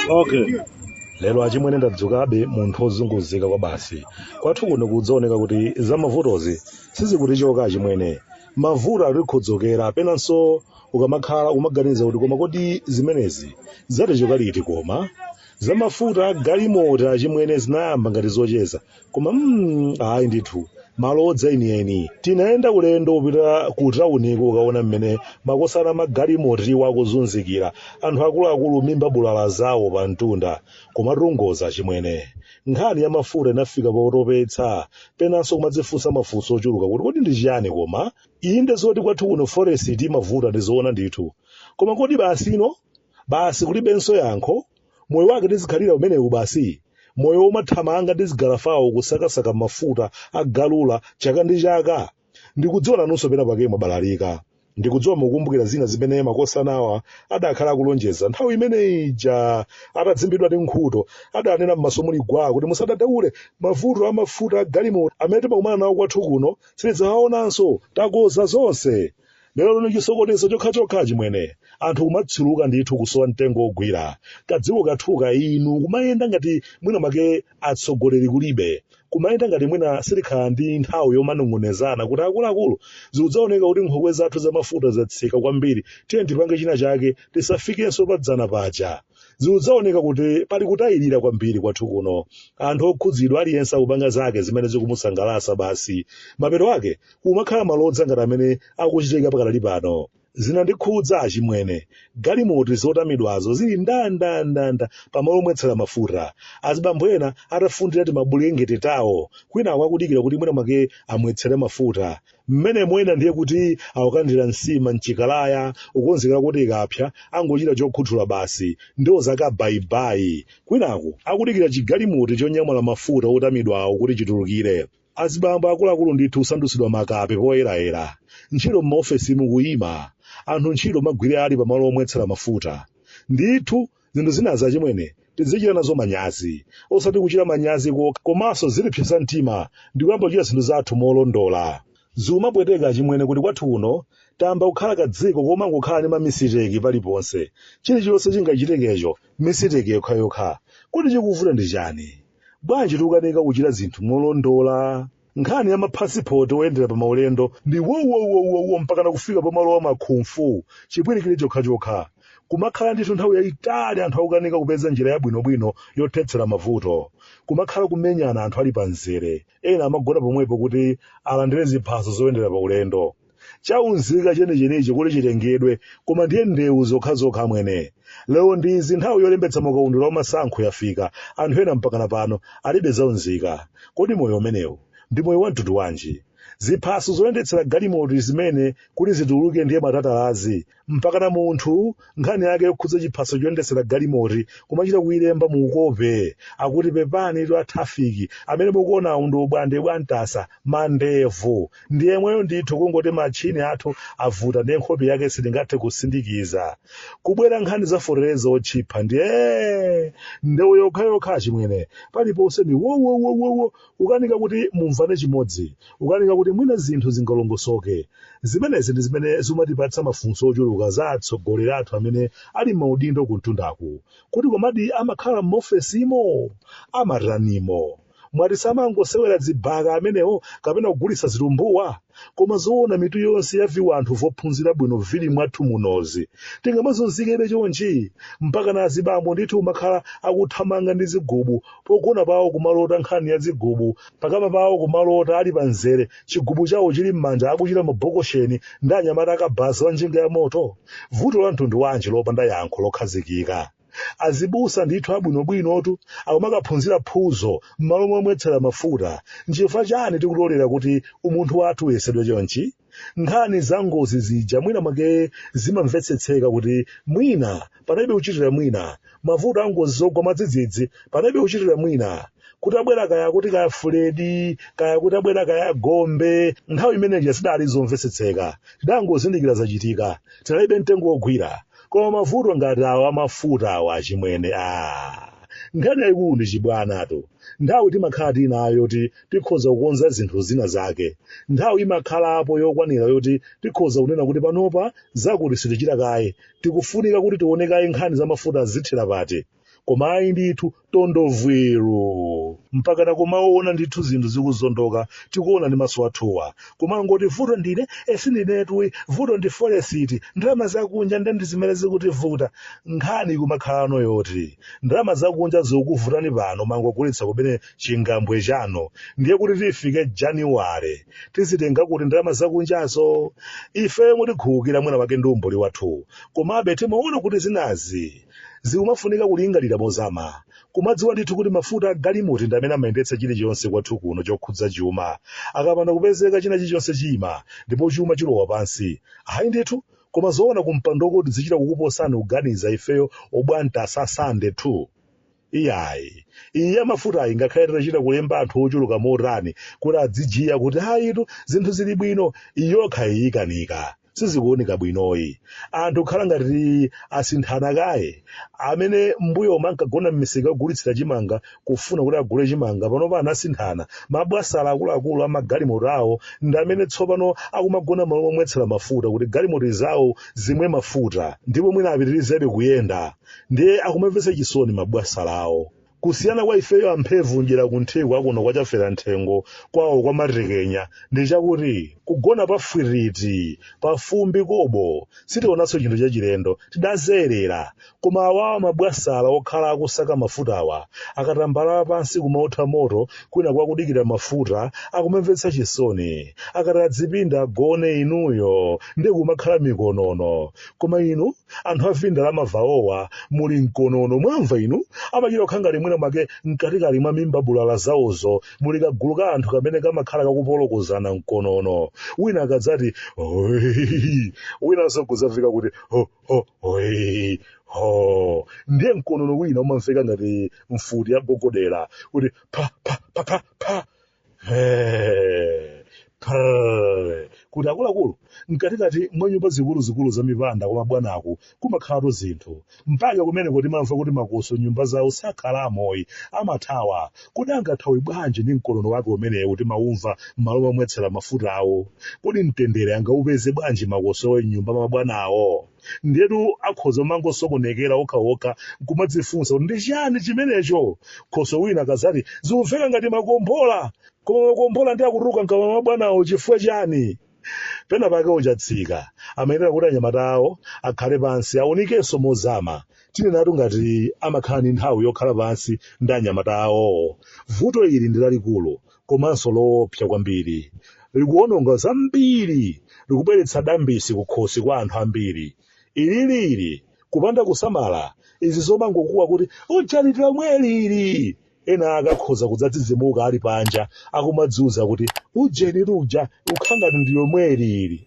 okay lero achimwene ndadzukabe munthu ozunguzika kwabasi kwathu kuno kudzaoneka kuti za mavutozi sizikutichoka achimwene mavuto atikhudzukira penanso ukamakhala kumaganiza kuti koma kodi zimenezi zatichoka liti koma za mafuta agalimoto achimwene zinayamba ngati zocheza koma mm, ayi ndithu malodza enieni tinayenda ulendo upita ku tauniko ukaona mmene makosana amagalimotowa akuzunzikira anthu akuluakulu mimba bulala zawo pa mtunda kumatongoza achimwene nkhani ya mafuta inafika potopetsa penanso kumadzifunsa mafunso ochuluka kuti kodi ndi chiyani koma inde zoti kwathu kuno forex imavuta ndizoona ndithu koma kodi basi inu basi kulibenso yankho moyo wake tizikhalira umenewu basi moyo womathamanga ndi zigalafawu kusakasaka mafuta agalula chaka ndi chaka ndikudziwa nanunso pena pake mwabalalika ndikudziwa mukumbukira zina zimene makosanawa anakhala akulonjeza nthawi imene ija atadzimbidwa ndi mkhuto adanena m'maso muli gwa kuti musadadaule mavuto amafuta agalimoto amene timakumana nawo kwathu kuno sitidzawaonanso takonza zonse lero lino chisokonezo chokhachokha achimwene anthu kumatsuluka ndithu kusowa mtengo wogwira kadziko kathuka inu kumayenda ngati mwina make atsogoleri kulibe kumayenda ngati mwina sitikhala ndi nthawi yomanong'onezana kuti akuluakulu zikudzaoneka kuti nkhokwe zathu zamafuta zatsika kwambiri tiyeni tipange china chake tisafikenso padzana paja zikudzaoneka kuti pali kutayirira kwambiri kwathu kuno anthu okhudzidwa aliyense akupanga zake zimene zikumusangalatsa basi mapeto ake kumakhala malodza ngati amene akuchitika pakadali pano zinandikhudza achimwene galimoti zotamidwazo zili ndandandanda pamalo omwetsera mafuta azibambo ena atafundira timabulengete tawo kwinaku akudikira kuti mwina mwake amwetsere mafuta mmenemo ena ndiye kuti akukandira nsima mchikalaya kukonzekera kuti ikapsa angochita chokhuthula basi ndiwo zake bayibayi kwinaku akudikira chigalimoti chonyamula mafuta otamidwawo kuti chitulukire azibambo akuluakulu ndithu kusandutsidwa makape poyerayera ntchito m'maofesimu kuyima anthu ntchito magwire ali pamalo omwetsera mafuta ndithu zinthu zinazi achimwene tizichita nazo manyazi osati kuchita manyazi kokha komanso zitipsetsa mtima ndi kuyamba kuchita zinthu zathu molondola zikumapweteka achimwene kuti kwathu kuno tayamba kukhala kadziko komangokhala ndi mamisiteki paliponse chilichonse chingachitekecho misiteki yokhayokha kodi chikuvuta ndi chani bwanji tikukanika kuchita zinthu molondola nkhani ya maphasipoti oyendera pa maulendo ndi wowowowowo mpakana kufika pamalo a makhumfu chipwirikire chokhachokha kumakhala ndithu nthawi yayitali anthu akukanika kupeza njira yabwinobwino yothetsera mavuto kumakhala kumenyana anthu ali pa mzere ena amagona pomwepo kuti alandire ziphaso zoyendera pa ulendo chaunzika chenichenichi kuti chitengedwe koma ndiye ndewu zokhazokha mwene lero ndizi nthawi yolembetsa makaundula wamasankho yafika anthu ena mpakana pano alibe zaunzika kodi moyo umenewu ndi moyo wa mtundu wanji ziphaso zoyendetsera galimoto zimene kuti zituluke ndiye matatalazi mpakana munthu nkhani yake yokhudza chiphaso choyendetsera galimoti kumachita kuyilemba mu ukope akuti pepani inu atrafiki amene mukuonawo ndi Bwande Bwantasa mandevu ndi yemweyo ndithu kungoti matchini athu avuta ndiye nkhope yake sitingathe kusindikiza kubwera nkhani za fotereza otchipha ndiye ndewu yokhayokha achimwene paliponse ndi wowowowowo Kukanika kuti mumvane chimodzi, kukanika kuti mwina zinthu zingalongosoke. Zimenezi ndi zimene zumatipatsa mafunso ochuluka za atsogoleri athu amene ali m'maudindo kumtundaku. Kodi komadi amakhala m'maofesimo? Amatanimo? Mwati samangosewera dzibhaka amenewo kapena kugulitsa zitumbuwa? koma zoona mitu yonse ya viwanthu vophunzira bwino vili mwathu munozi tingamazunzikebe chonchi mpakana azibambo ndithu umakhala akuthamanga ndi zigubu pogona pawo kumalota nkhani ya zigubu pakama pawo kumalota ali pa mzere chigubu chawo chili m'manja akuchita mabokosheni ndi anyamata akabaza a njinga ya moto vuto la mtundu wanji lopanda yankho lokhazikika azibusa ndithu abwinobwinotu akumakaphunzira phuzo m'malo momwetsera mafuta nchifukwa chani tikulolera kuti umunthu wathu uyesedwe chonchi nkhani za ngozi zija mwina mwake zimamvetsetseka kuti mwina panalibe kuchitira mwina mavuto a ngozi zogwa mwadzidzidzi panalibe kuchitira mwina kutabwera kaya kuti kaya fuledi kaya kutabwera kaya gombe nthawi imene ija zidali zomvetsetseka tidangozindikira zachitika tinalibe mtengo wogwira koma mavuto ngati awa amafuta awa achimwene aa nkhani yayikulu ndi chibwanatu nthawi timakhala tinayo yoti tikhoza kukonza zinthu zina zake nthawi imakhalapo yokwanira yoti tikhoza kunena kuti panopa zakuti sitichita kaye tikufunika kuti tione kaye nkhani za mafuta zithera pati koma ayi ndithu tondovwiru mpakana kumaona ndithu zinthu zikuzondoka tikuona ndi maso athuwa kumangoti vuto ndine sindinetu ayi vuto ndi foresiti ndalama zakunja nde ndi zimene zikutivuta nkhani kumakhalano yoti ndalama zakunja zikukuvutani pano mangogulitsa kumene chingambwe chanu ndiye kuti tifike januwale tizitenga kuti ndalama zakunjazo ife mutikhulukira mwina mwake ndi umbuli wathu komabe timaona kuti zinazi Zikumafunika kulingalira mozama, kumadziwa ndithu kuti mafuta a galimoto ndi amene amayendetsa chilichonse kwathu kuno chokhudza chuma. Akapanda kupezeka china chilichonse chiima, ndipo chuma chilowa pansi. Ayi ndithu, koma zoona kumpandoko tidzichita kukuposani kuganiza ifeyo obwanta asasande tu. Iyayi, iyi ya mafutayi ngakhale titachita kulemba anthu ochuluka motani kuti adzijiya kuti ayitu zinthu zili bwino, iyi yokhayi ikanika. sizikuoneka bwinoyi anthu khala ngati asinthana kaye amene mmbuyomu ankagona mmisika yogulitsira chimanga kufuna kuti agule chimanga panopa anasinthana mabwasala akuluakulu amagalimoto awo ndi amene tsopano akumagona malo omwetsera mafuta kuti galimoto zawo zimwe mafuta ndipo mwina apitirizebe kuyenda ndiye akumamvetsa chisoni mabwasala awo Kusiyana kwa ifeyo amphevu mdyera kunthiko akuno kwa chafera nthengo kwawo kwa matekenya ndi chakuti kugona pa fwirriti pa fumbi kobo sitionanso chinthu chachilendo tidazolowera koma awawa mabwasala akhala akusaka mafutawa akatambalala pansi kumaotha moto kwinaku akudikira mafuta akumamvetsa chisoni akati adzipinda agone inuyo nde kumakhala mikonono koma inu anthu a vindalama vawowa muli mkonono mwamva inu amachita kukhala ngati mwina mwake mkatikati mwa mimba bulaala zawozo muli kagulu ka anthu kamene kamakhala kakupolokozana mkonono wina akadzati "Hoi," winanso kudzafika kuti "Ho, ho, hoi." ho ndiye mkonono wina umamveka ngati mfuti ya gogodera kuti pa pa pa pa pa He, prr. kuti akuluakulu mkatikati mwa nyumba zikuluzikulu za mipanda kwa mabwanaku kumakhalatu zinthu mpaka kumeneku timamva kuti makoswe mnyumba zawo sakhalamoyi amathawa kodi angathawe bwanji ndi mkonono wake umenewu timaumva m'malo momwetsera mafutawo kodi mtendere angaupeze bwanji makoswe m'nyumba mwa mabwanawo ndiyetu akhoza kumangosokonekera okhaokha nkumadzifunsa kuti ndi chiyani chimenecho khoswe wina akadzati zikumveka ngati makombola koma makombolanji akutuluka mkamwa mwa bwanawo chifukwa chiyani pena pake a Chatsika amayenera kuti anyamata awo akhale pansi aonikenso mozama tinenatu ngati amakhala ndi nthawi yokhala pansi ndi anyamata awowo vuto ili ndi lalikulu komanso loopsa kwambiri. Likuwononga zambiri, likubweretsa dambisi kukhosi kwa anthu ambiri. Ili lili kupanda kusamala, izi zomangokuwa kuti ujeni ndi lomweli ili! Ena ake akhoza kudzadzidzimuka ali panja akumadziuza kuti ujeni luja ukhala ngati ndi lomweli ili.